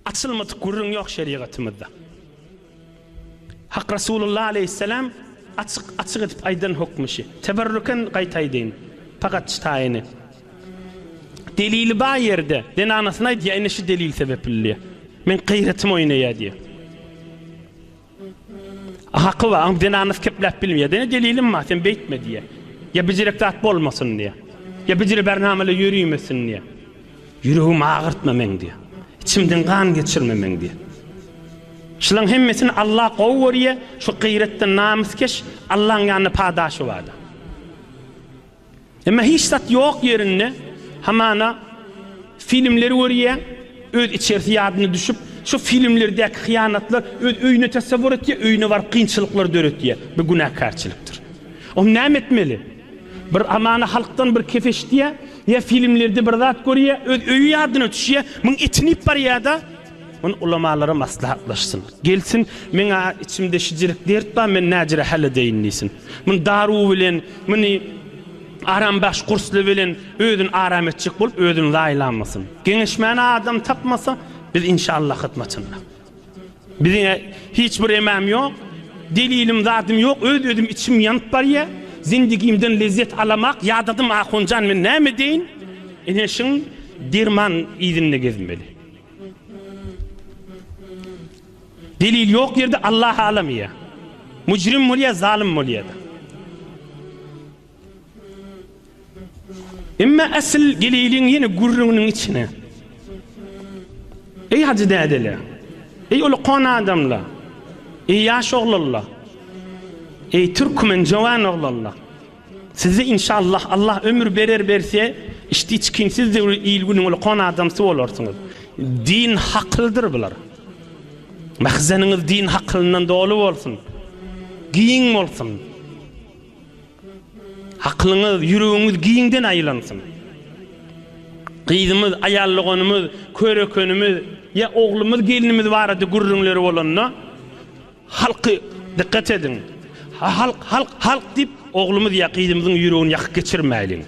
Açylmadyk gürrüň ýok şerigatymyzda. Hak Resulullah aleýhisselam açyk açyk edip aýdan hokmy şi. Teberrüken gaýtaýdyn. Pagat şi taýyny. Delili bar ýerde zenanasyna aýdýa ine şi delil sebepli diýe. Meň gyýratym oýnaýa diýe. Haky bar, aňrydan annas kepläp bilmeýär. Ýene delilim bar, sen beýtme diýýär. Ýa bijirek zat bolmasyn diýýär. Ýa bijire bärnameler ýörimesin diýýär. Ýüregimi agyrtma meň diýýär. Içimden gan geçirme meň diýýär. Şulaň hemmesini Alla gowy görýär, şu gyýratdan namyskeş Allaň ýanynda padaşy bardyr. Emma hiç zat ýok ýerinde hamana filmleri görýäň, öz içerisi ýadyna düşüp, şo filmlerdäki hyýanatlar öz öýüne tasawwur etýär, öýüne baryp kynçylyklar döretýär. Bu günäkärçilikdir. Onda näme etmeli? Bir hamana halkdan bir kep eşitýär, ýa filmlerde bir zat görýär, öz öýi ýadyna düşýär, muň etini iýip barýar-da, Muny ulamalara maslahatlaşsyn. Gelsin, men-ä içimde şijirik dert bar, men näjire häl edeýin diýsin. Muny daruw bilen, muny arambahş gursly bilen özüni aram etjek bolup, özüni zaýalamasyn. Geňeşmäne adam tapmasa, biz inşallah hyzmatynda. Biziň-ä hiç bir emäm ýok, delilim, zadym ýok, öz-özüm içim ýanyp barýar. Zindigimden lezzet alamak ýadadym, ahunjan, men näme edeýin? Ene şiň derman yzynda gezmeli. Delil ýok ýerde Allah halam ýa mujrim bolýa zalym bolýada. Emma asyl geleyliň ýene gürrüňiniň içine. Eý hajy dädele. Eý ol kon adamla. Eý ýaş oglalla. Eý türkmen jowan oglalla. Sizi inşallah Allah ömür berer berse işdi çikinsiz döwri il günüň ulkan adamsy bolarsyňyz. Din hakylydyr bular. Mahzeniňiz din hakylyndan doly bolsun. Giň bolsun. Hakylyňyz, ýüregiňiz giňden aýlansyn. Gyzymyz, aýal doganymyz, körekenimiz ýa oglumyz, gelnimiz barada gürrüňleri bolanda Halky, dikkat ediň! Halk, halk, halk diýip, oglumyz Ýakyzymyzyň ýüregini ýakyp geçirmäýliň.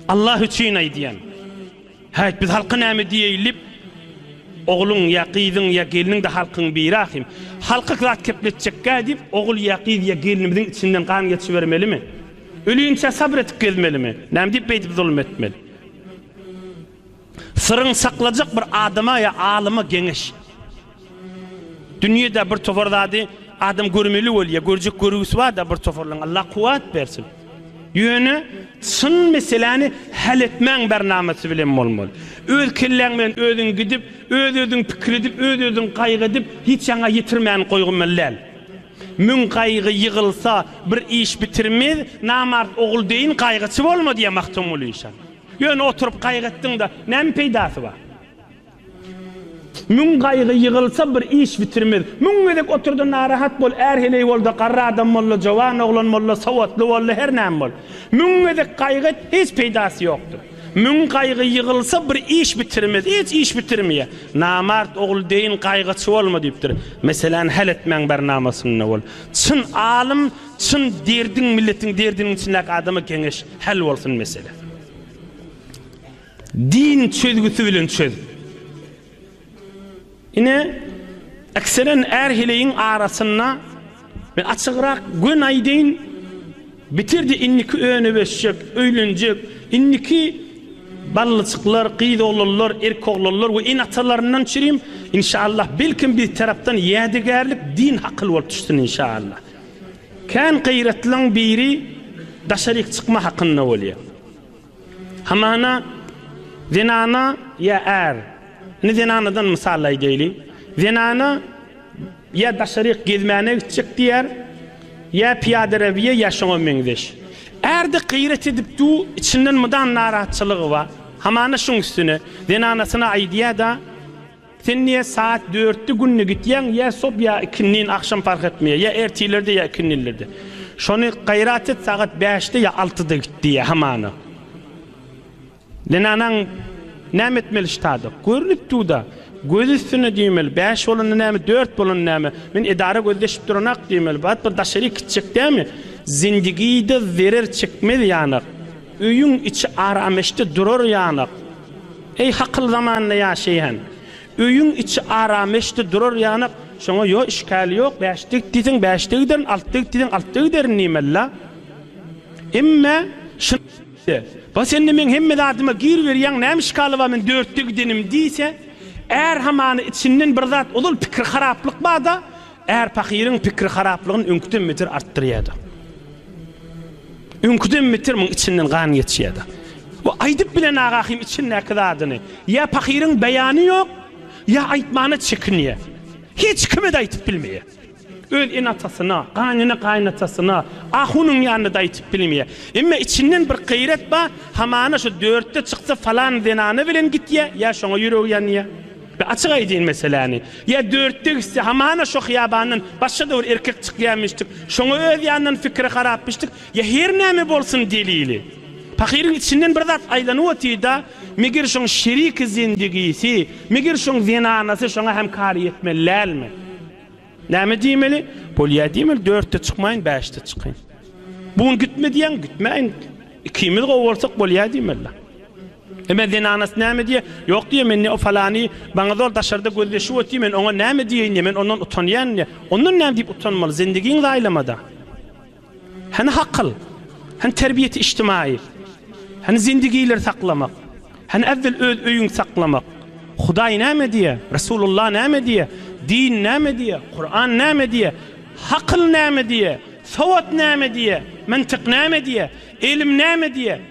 Allah üçin aýdýan. Häýt, biz halka näme diýeýin diýip, ogluň, Ýakyzyň ýa gelniň-de halkyň biri ahym. Halka zat kepletjekkä diýip, ogul, Ýakyz ýa gelnimiziň içinden gan geçibermelimi? Ölýänçä sabr edip gezmelimi? Näme diýip beýdip zulum etmeli? Syryň saklajak bir adama ýa alyma geňeş. Dünýede bir topar zady adam görmeli bolýa, görjek görgüsi barda bir toparlaň Allah kuwat bersin. Ýöne çyn meseläni häl etmäň bernamasy bilen bolmaly. Öz kelläň bilen özüň gidip, öz özüň pikir edip, öz özüň gaýgy edip hiç ýaňa ýetirmäni goýgmaly däl. Müň gaýgy ýygylsa bir iş bitirmez, namart ogul deýin gaýgyçy bolma diýýär Magtymguly şa. Ýöne oturyp gaýgy etdiň-de, näme peýdasy bar? Müň gaýgy ýygylsa, bir iş bitirmez. Müň gezek otur-da, narahat bol, är heleý bol-da, garry adam bol-da, jowan oglan bol-da, sowatly bol-da, her näme bol. Müň gezek gaýgy et, hiç peýdasy ýokdur. Müň gaýgy ýygylsa, bir iş bitirmez. Hiç iş bitirmeýär. Namart ogul deýin gaýgyçy bolma diýipdir. Meseläni häl etmäň bernamasynda bol. Çyn alym Çyn derdiň milletiň derdiniň içindäki adama geňeş häl bolsun mesele. Din çözgüsi bilen çöz. Ine ekseren är heleýiň arasynda men açygrak gön aýdaýyn bitirdi indiki öne beşjek öýlenjek indiki ballyjyklar gyz oglanlar erk oglanlar we in atalaryndan çirim inşallah belkim bir tarapdan ýädegärlik din hakyl bolup düşsün inşallah. Kän gyratlyň biri daşaryk çykma hakynda bolýar. Hamana zenana ýa är, indi zenanadan mysal aýdaýly, zenana ýa daşaryk gezmäne gitjek diýer, ýa pyýadarabiýa ýa şoňa meňzeş. Ärde gyrat edip du, içinden mydam narahatçylygy bar. Hamana şuň üstüne zenanasyna aýdýar-da, Sen niye saat dörtde günde gitýäň ýa sob ýa ikindin agşam fark etmeýär ýa ertirlerde ýa ikindinlerde şony gaýrat et sagat bäşde ýa altyda git diýýär hamana zenanaň näme etmeli ştada görünip durda göz üstünde diýmeli bäş bolanda näme dört bolanda näme men edara gözleşip duranak diýmeli bat bir daşaryk gitjek dämi zindigide zerer çekmez ýanak öýüň içi arameşde durar ýanak. Eý, hakyl zamanynda ýaşaýan! Öýüň içi arameşdi durar ýanak, şoňa ýo işgäl ýok, bäşde git diýseň, bäşde giderin, altda git diýseň, altda giderin diýmeli-la. Emme, şyn-de, bas indi meň hemme zadyma gir berýäň, näme işgaly bar men dörtde gidenim diýse, är hamany içinden bir zat ozal pikir haraplyk bar-da, Är pahyryň pikiri haraplygyny öňküden beter artdyrýardy. Öňküden beter muň içinden gan geçýärdi. Bu aýdyp bilen Agahym içindäki zadyny. Ýa pahyryň beýany ýok, ýa aýtmana çekinýär. Hiç kime-de aýdyp bilmeýär. Öz ene-atasyna, gaýnene-gaýynatasyna, ahunyň ýanynda-da aýdyp bilmeýär. Emma içinden bir gaýrat bar, hamana şu dörtde çyksa falan zenana bilen gitýär, ýa şoňa ýüregi ýanýar. Be açyk aýdyn meseläni. Ýa dörtde gitse hamana şo hyýabandan başga-da bir erkek çykýamyşdyk, şoňa öz ýanyndan pikiri harapmyşdyk, ýa her näme bolsun delili. Pahyryň içinden bir zat aýlanyp otyrda, meger şoň şeriki zendigisi, meger şoň zenanasy şoňa hem kar ýetmeli dälmi? Näme diýmeli? Bolýa diýmeli, dörtde çykmaýyn, bäşde çykyn. Bu gün gitme diýýäň, gitmäýin. Ikimiz gowy bolsak bolýa diýmeli. Emma zenanasy näme diýer? Ýok diýer, men ne o falany, maňa zor daşarda gözleşip otyr, men oňa näme diýeýin-de, men ondan utanýan diýer. Ondan näme diýip utanmaly, zendigiňi zaýlama-da. Hany hakyl? Hany terbiýeti içtimaýy? Hany zendigileri saklamak? Hany äwwel öz öýüňi saklamak? Hudaý näme diýer? Resulullah näme diýer? Din näme diýer? Kuran näme diýer? Hakyl näme diýer? Sowat näme diýer? Myntyk näme diýer? Ylym näme diýer?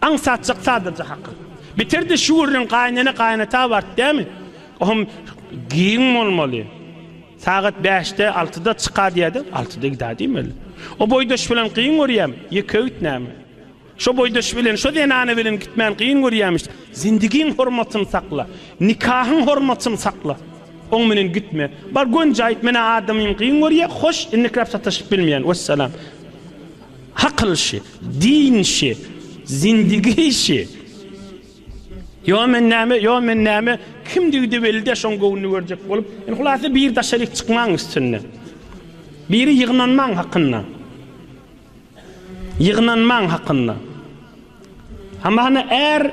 Aňsatjak sadaja hakyl. Bitirdi şu gürrüň gaýynene gaýynata bart dämi? Ohm giň bolmaly. Sagat bäşde, altyda çyka diýädi, altyda gidä diýmeli. O boýdaş bilen gyň görýämi? Ýeke git näme? Şo boýdaş bilen, şo zenana bilen gitmän gyň görýämiş. Zindigiň hormatyny sakla. Nikahyň hormatyny sakla. Oň bilen gitme. Bar gönjaýt, menä adamym gyň görýä, hoş, indikräp sataşyp bilmeýän. Wessalam. Akyl şi, din şi, zindigi şi. Ýo men näme, ýo men näme, kimdigi-de belli däl, şoň göwnüni görjek bolup, indi hulasa biri daşaryk çykmaň üstünde. Biri ýygnanmaň hakynda. Ýygnanmaň hakynda. Hamana är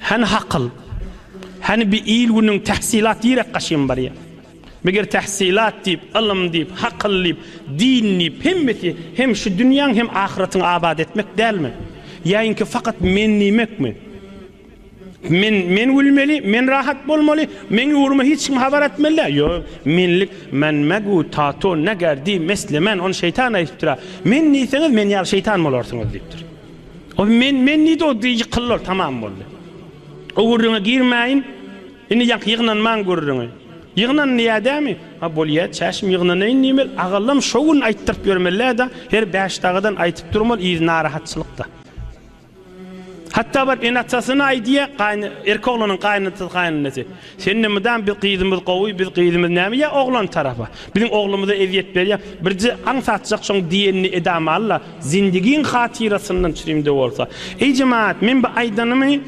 Hany hakyl? Hany bi il-günüň tähsilat direk gaşym barýa? Meger tähsilat diýip, ylym diýip, hakyl diýip, din diýip, hemmesi hem şu dünýäň hem ahyratyňy abat etmek dälmi? Ýaýinki fakat men diýmekmi? Men, men gülmeli, men rahat bolmaly, meň ugryma hiç kim habar etmeli däl. Ýo, menlik, men megu, tato, neger, di, mesle, men, on şeýtan aýtdypdyra. Men diýseňiz, men ýaly şeýtan bolarsyňyz diýipdir. Ol men, men diýdi, ol diýdi ýykyldylar, tamam boldy. O gürrüňe girmäýin, indi ýaňky ýygnanmaň gürrüňi. Ýygnan diýýä dämi? Ha bolýa, çäşim ýygnanaýyn diýmeli, agallam şo gün aýtdyryp ýörmelä-da, her Bäşdagadan aýtyp durmaly, yz narahatçylykda. Hatda baryp ene-atasyna aýdýa, gaýyn, erki oglanyň gaýynatasy, gaýynenesy. Sende mydam biz gyzymyz gowy biz gyzymyz näme ýa oglan tarapa biziň oglumyza ezýet berýä birje aň satjak şoň diýenini edama alla zindigiň hatyrasyndan çrimde bolsa eý jemaat men bu aýdanymy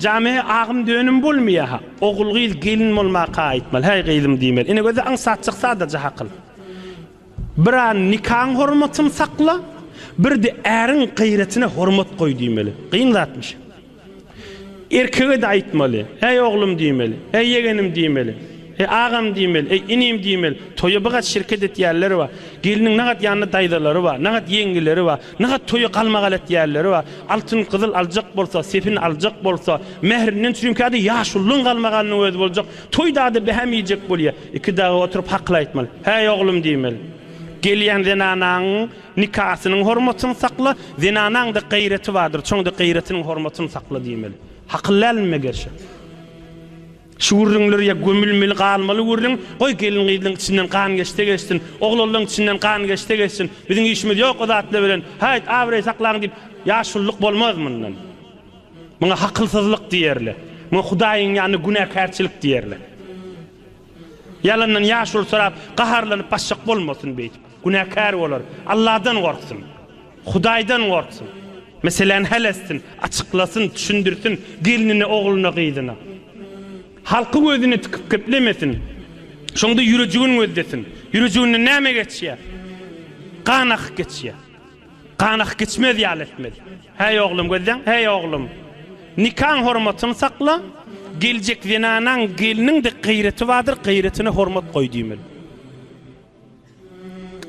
jame agym dönüm bolmýaha ogul gyz gelin bolmaka aýtmaly häý gyzym diýmeli ine göze aň satjak sadaja hakyl bir an nikaň hormatyn sakla birde äriň gyratyna hormat goý diýmeli gyň zatmyş. Erkege-de aýtmaly. Äý, oglum diýmeli. Äý, ýegenim diýmeli. Äý, agam diýmeli. Äý, inim diýmeli. Toýa bigat şirket etýänler bar. Gelniň nagat ýanynda daýzalary bar, nagat ýeňňeleri bar. Nagat toýa galmagal etýänleri bar. Altyn, gyzyl aljak bolsa, sepin aljak bolsa, mährinden çürimkä-de ýaşulynyň galmagalynyň özi boljak. Toýda-da behäm iýjek bolýar. Iki dagy oturyp hakyl aýtmaly. Äý, oglum diýmeli. Gelýän zenanaň Nikasynyň hormatyny sakla, zenanaňda gaýraty bardyr, şoňda gaýratynyň hormatyny sakla diýmeli. Hakyl dälmime gerşe? Şu gürrüňler ýa gömülmeli galmaly gürrüň, goý gelin-gyzlaň içinden gan geçse geçsin, oglanlaň içinden gan geçse geçsin, biziň işimiz ýok o zatlar bilen, haýt abraý saklaň diýip, ýaşulylyk bolmaz mundan. Muňa hakylsyzlyk diýerler. Muňa Hudaýyň ýanynda günäkärçilik diýerler. Ýalandan ýaşuly sorap, gaharlanyp basjak bolmasyn beýdip. Günäkär bolar. Alladan gorksun. Hudaýdan gorksun. Meseläni häl etsin, açyklasyn, düşündirsin gelnine, ogluna, gyzyna. Halky gözüne tikip geplemesin. Şonda ýürejigin gözlesin. Ýürejiginden näme geçýär? Gan akyp geçýär. Ganak geçmez ýaly etmez. Häý oglum, gözleň, häý oglum! Nikaň hormatyny sakla, geljek zenanaň, gelniň-de gyreti bardyr, gyretine hormat goý diýmeli.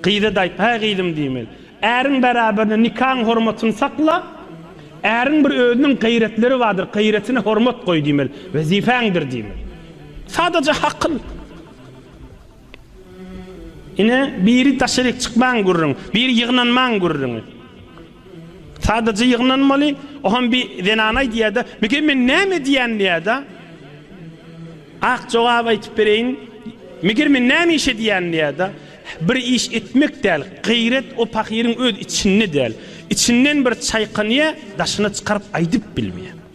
Gyza-da aýt, häý gyzym diýmeli, äriň bäraberine nikaň hormatyny sakla, äriň bir özüniň gyretleri bardyr, gyretine hormat goý diýmeli, wezipäňdir diýmeli. Sadaja hakyl. Ine, biri daşaryk çykmaň gürrüň, biri ýygnanmaň gürrüňi. Sadaja ýygnanmaly, oham bir zenan aýdýar-da, Meken men näme edýän diýär-de. Ak jogap aýtyp bereýin, Meger men näme iş edýän diýär-de. Bir iş etmek däl, gaýrat o pahyryň öz içinde däl. Içinden bir çaýkanýar, daşyna çykaryp aýdyp bilmeýär.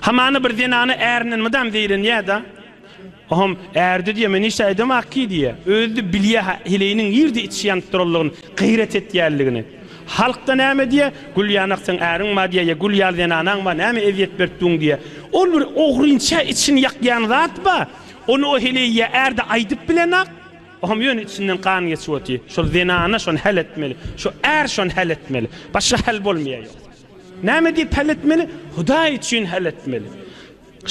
Hamana bir zenana ärinden mydam zeýrenýä-da, Ohom, ärde diýýä, men hiç-de aýdamok ki diýýä. Özi-de bilýä-hä heleýiniň nirde içişi ýanyp duranlygyny, gaýrat etýänligini. Halk-da näme diýýä, Gülýanak seň äriň bar diýýä ýa Gül ýaly zenanaň bar, näme ezýet berip duň diýýä. Ol bir ogrynça içini ýakýan zat bar, ony o heleý ýa ärde aýdyp bilenok. Ohom, ýöne içinden gan geçip otyr. Şol zenana şony häl etmeli, şu är şony häl etmeli. Başga häl bolmaýa ýok. Näme diýip hal etmeli? Hudaý üçin hal etmeli.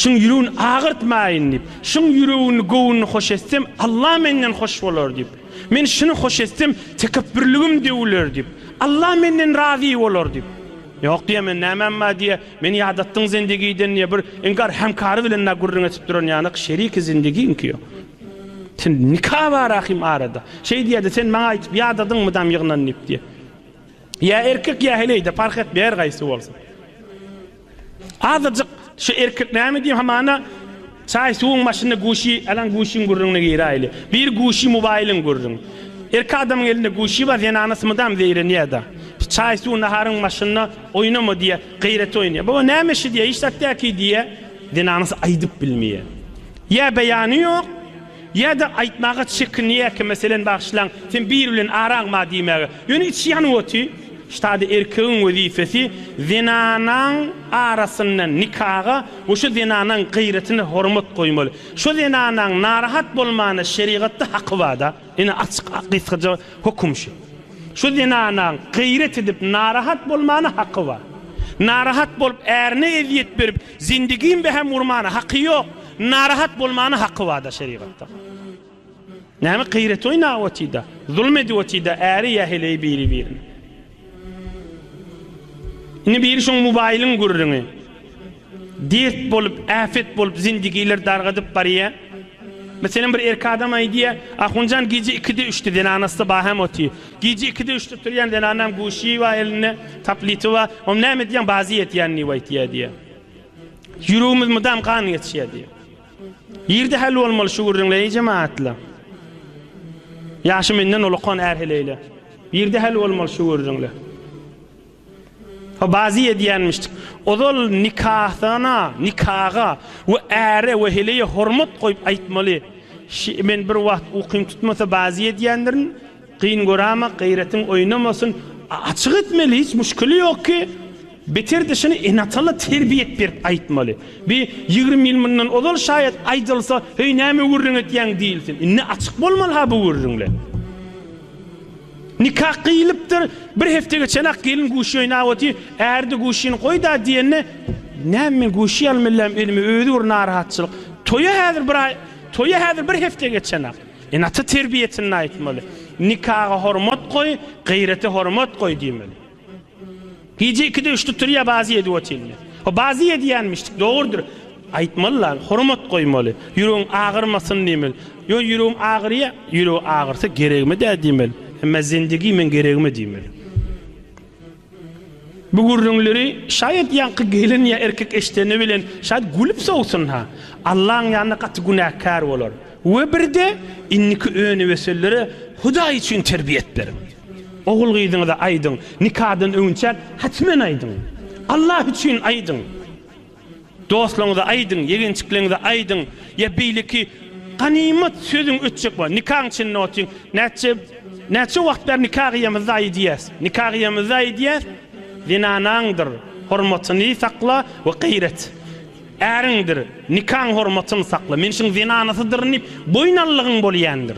Şuň ýüregini agyrtmaýyn diýip. Şuň ýüregini, göwnüni hoş etsem, Alla menden hoş bolar diýip. Men şuny hoş etsem, tekepbürligim döwüler diýip. Alla menden razy bolar diýip. Ýok diýýä men nämäm bar diýýä. Meni ýadatdyň zindegiden diýýä. Bir inkar hemkary bilen na gürrüň edip duran ýanak şeriki zindegiňki ýok. Sen nika bar ahim arada. Şeý diýýä-de sen maňa aýdyp ýadadyňmy dam ýygnan diýip diýýä. Ýa erkek ýa heleýde parh etmeýär gaýsy bolsa. Azajyk şu erkek näme diýýär hamana çaý suwuň başynda guşi alan guşiň gürrüňine giräýli. Bir guşi mobaýlyň gürrüň. Erkek adamyň elinde guşi bar zenana smydam zeýrenýärda. Çaý suw naharyň başynda oýnama diýýär gaýrat oýnaýar. Baba näme işi diýýär hiç zat däki diýýär. Zenanasy aýdyp bilmeýär. Ýa beýany ýok. Ýa-da aýtmaga çekinýärkä, meselem, Bagyşlaň, sen biri bilen araňma diýmäge. Ýöne içi ýanyp oty. Ştada erkegiň wezipesi zenanaň arasyndan nikaga we şo zenanaň gaýratyna hormat goýmaly. Şo zenanaň narahat bolmana şerigatda haky bar-da. Ine, açyk, gysgaja höküm şu. Şo zenanaň gaýrat edip narahat bolmana haky bar. Narahat bolup, ärine ezýet berip, Zindigim be hem urmana haky yok, narahat bolmana haky bada şerigatda. Näme gyrat oýnap otida, zulm edip otida äri ýa heleýi biri birine. Indi biri şoň mobaýlyň gürrüňi. Dert bolup, äpet bolup zindigiler dargadyp barýa. Meselem bir erkek adam aýdýa, Ahunjan gije 2-de 3-de zenanasy ba hem oty. Gije ikide üçde turýan zenanam guşy bar elinde, tableti bar. Ony näme edýäň, bazy ýetýän diýip aýtýar diýýär. Ýüregimiz mydam gan geçýär diýýär. Ýerde häl bolmaly şu gürrüňler, eý jemagatlar. Ýaşy menden ulakan är heleýler. Ýerde häl bolmaly şu gürrüňler. Bazy edýänmişdik. Ozal nikahana, nikaga we äre we heleýe hormat goýup aýtmaly. Şi, men bir wagt ukym tutmasa bazy edýändirin. Gyn göräma, gaýratyň oýnamasyn. Açyk etmeli, hiç muşkili ýok ki. Beter-de şuny ene-atala terbiýet berip aýtmaly. Bi ýigrimi ýyl mundan ozal şaýat aýdylsa, heý näme gürrüň etýäň diýilsin. Indi açyk bolmaly-ha bu gürrüňler. Nikah gyýylypdyr, bir hepde geçenak gelin guşy oýnap otyr, äri-de guşyny goý-da diýende, Näme men guşy ýalym elläm, özüme özi bir narahatçylyk. Toýa häzir bir aý, toýa häzir bir hepde geçenak. Ene-ata terbiýesinde aýtmaly, Nikaga hormat goý, gyrete hormat goý diýmeli. Gije ikide üçde turýa bazy edip otyrmy? O bazy edýänmişdik, dogrudyr. Aýtmaly lan, hormat goýmaly. Ýüregiň agyrmasyn diýmeli. Ýöne ýüregim agyrýa, ýüregi agyrsa geregime-dä diýmeli. Emma zindigi meň geregime diýmeli. Bu gürrüňleri şaýat ýaňky gelin ýa erkek eşideni bilen şaýat gülüp sowsun-ha. Allaň ýanynda gaty günäkär bolar. We birde indiki öni-wesellere Hudaý üçin terbiýet beriň. Ogul-gyzyňyza aýdyň, nikadan öňünçäk hatmen aýdyň. Allah üçin aýdyň. Dostlaryňyza aýdyň, ýegençikleriňize aýdyň. Ýa beýleki ganymat sözüň ötjek bolsa, nikaň içinde otyň. Näçe näçe wagt bäri nika gyýamyzda aýdýas. Nika gyýamyzda aýdýas, Zenanaňdyr hormatyny sakla we gaýrat. Äriňdir nikaň hormatyny sakla. Men şuň zenanasydyryn diýip, boýun allygyň bolýandyr.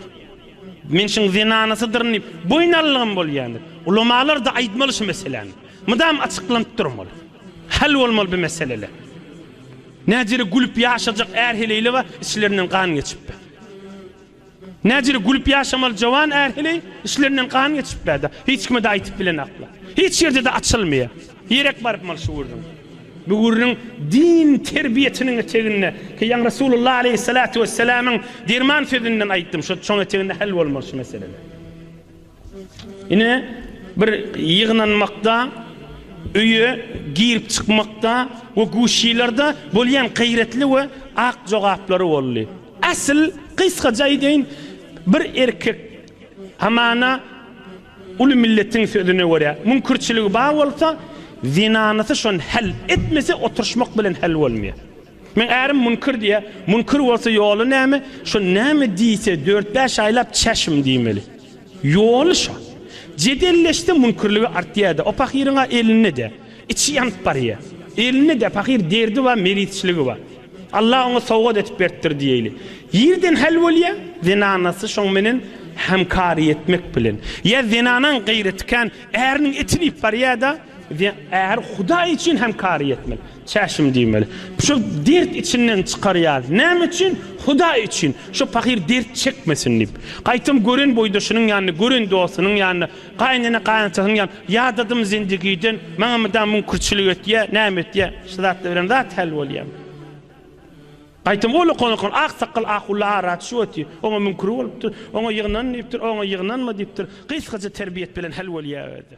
Men şuň zenanasydyryn diýip, boýun alylygym bolýandyr. Ulamalar-da aýtmaly şu meseläni. Mydam açyklanyp durmaly. Hal bolmaly bu meseleler. Näjere gülüp ýaşajak är-heleýle bar, içlerinden gan geçip bar. Näjere gülüp ýaşamaly jowan är-heleý, içlerinden gan geçip bar-da, hiç kime-de aýtyp bilenaklar. Hiç ýerde-de açylmaýar. Direk baryp mal şu gürrüň. Bu gürrüň din terbiýesiniň eteginde ki ýaňy Resulullah aleýhissalatu wessalamyň derman sözünden aýtdym şo çoň eteginde hal bolmaly şu meseleler. Ine bir ýygnanmakda öýe girip çykmakda we guşilerde bolýan gaýratly we ak jogaplary boldy. Asl gysgaca aýdaýyn bir erkek Hamana uly milletiň sözüne görä, müňkürçiligi bar bolsa, zenanysy şony hal etmese, oturyşmak bilen hal bolmaýar. Meň ärim müňkür diýýär. Müňkür bolsa ýoly näme? Şo näme diýse, dört-bäş aýlap çäşim diýmeli. Ýoly şo. Jedelleşse müňkürligi artýar-da. O pahyryň-a elinde-de. Içi ýanyp barýar. Elinde-de pahyr derdi bar, meritçiligi bar. Allah oňa sowgat edip beripdir diýeýli. Ýerden häl bolýar, zenanasy şoň menen hämkary etmek bilen. Ýa zenanaň gaýraty kän, äriniň etini iýip barýar-da, äri Hudaý üçin hämkary etmeli. Çäşim diýmeli. Şo dert içinden çykarýar. Näme üçin? Hudaý üçin. Şo pahyr dert çekmesin diýip. Gaýtam gören boýdaşynyň ýanynda, gören dostunyň ýanynda Gaýynene gaýynatasyny ýan ýadadym zindigiden maňa mydam müňkürçilik etýä näme etýä şu zatlar bilen zat häl bolýam. Gaýtam ol okan-okan ak sakgal ahulla ara düşip otyr oňa müňkür bolupdyr oňa ýygnan diýipdir oňa ýygnanma diýipdir gysgaja terbiýet bilen häl bolýa özi.